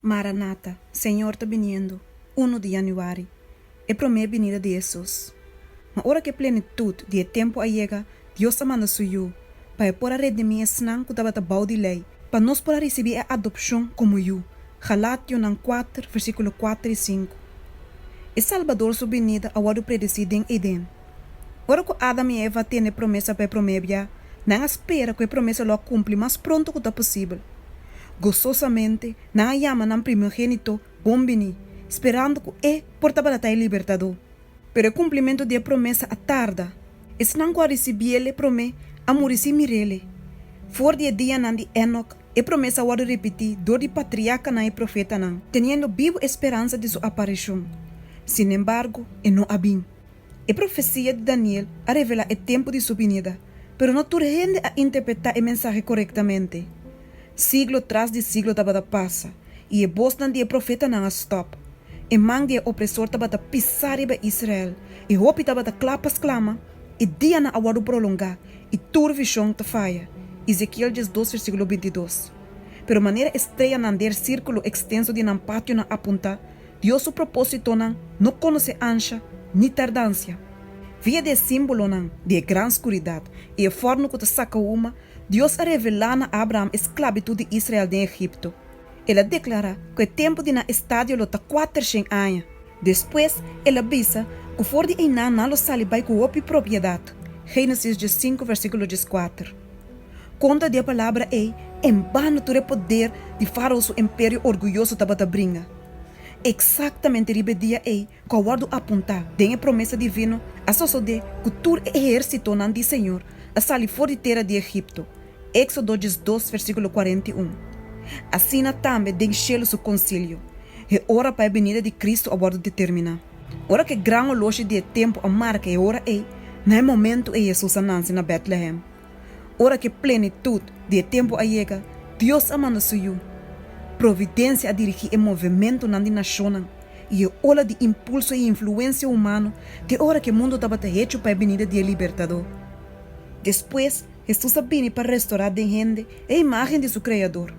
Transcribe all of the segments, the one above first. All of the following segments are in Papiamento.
Maranata, Señor ta biniendo, Unu di Januari, e promé binida di Hesus. Ma ora ku e plenitut di e tempu a yega, Dios a manda Su Yu, pa E por a redimí esnan ku tabata bou di lei, pa nos por a risibí e adopshon komo yu. Galationan kuater, versíkulo kuater i sinku. E Salbador Su binida a wòrdu predesí den Eden. Ora ku Adam i Eva a tende e promesa pa e promé bia, nan a spera ku e promesa lo a kumpli mas pronto ku ta posibel. Gososamente, nan a yama nan Primogénito Bon Biní, sperando ku E por tabaratá e Libertadó. Pero e kumplimentu di e promesa a tarda. Esnan ku a risibí el e promé a muri sin mir'ele. For di e dianan di Enok, e promesa a wòrdu ripití dor di patriarkanan i profetanan, teniendo bibu e speransa di su apareshon. Sinembargo, e no a bin. E profesia di Daniel a revelá e tempu di su binida, pero no tur hende a interpretá e mensahe korektamente. Siglo tras di siglo tabata pasa, i e bosnan di e profetanan a stòp. E man di e opresor tabata pisá riba Israel, i hopi tabata kla pa sklama, E dianan a wòrdu prolongá, i tur vishon ta faya. Ezekiel dies dos versíkulo binti dos. Pero manera e streyanan der sírkulo ekstenso di nan pationan a puntá, Dios su propósitonan no conoce ansha ni tardancia. Via di e símbolonan di e gran scuridad i e forno cu ta saca huma, Dios a revelá na Abraham e sclabitud di Israel den Egipto. El a declará cu e tempu di nan estadio lo ta cuatercien aña. Despues el a bisa cu for di einan nan lo sali bai cu hopi propiedad, Génesis diezcinco, versículo diescuater. Konta di e palabra ei, en banda tur e poder di Fárao su emperio orguyoso tabata bringa. Eksaktamente riba e dia ei ku a wòrdu apuntá den e promesa divino, a sosodé ku tur e ehérsitonan di Señor a sali for di tera di Egipto, Éksodo diesdos, versíkulo kuarenta i un. Asina tambe den shelu su konsilio, e ora pa e binida di Kristu a wòrdu determiná. Ora ku e gran oloshi di e tempu a marka e ora ei, na e momentu ei Hesus a nansi na Bètlehem. Ora ku e plenitut di e tempu a yega, Dios a manda Su Yu. Providensia a dirigí e movementunan di nashonnan i e ola di impulso i influensia humano te ora ku e mundu tabata hechu pa e binida di e Libertadó. Despues, Hesus a bini pa restorá den hende e imágen di su Kreador.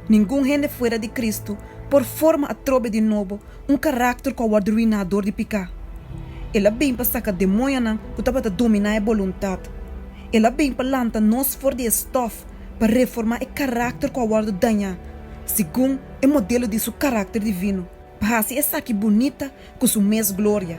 Ningun hende fuera di Kristu por forma atrobe di nobo un karákter ku a wòrdu ruiná dor di piká. El a bin pa saka demoñonan ku tabata dominá e boluntat. El a bin pa lanta nos for di e stòf pa reformá e karákter ku a wòrdu dañá segun e modelo di su karákter divino, pa hasi esaki bunita ku su mes gloria.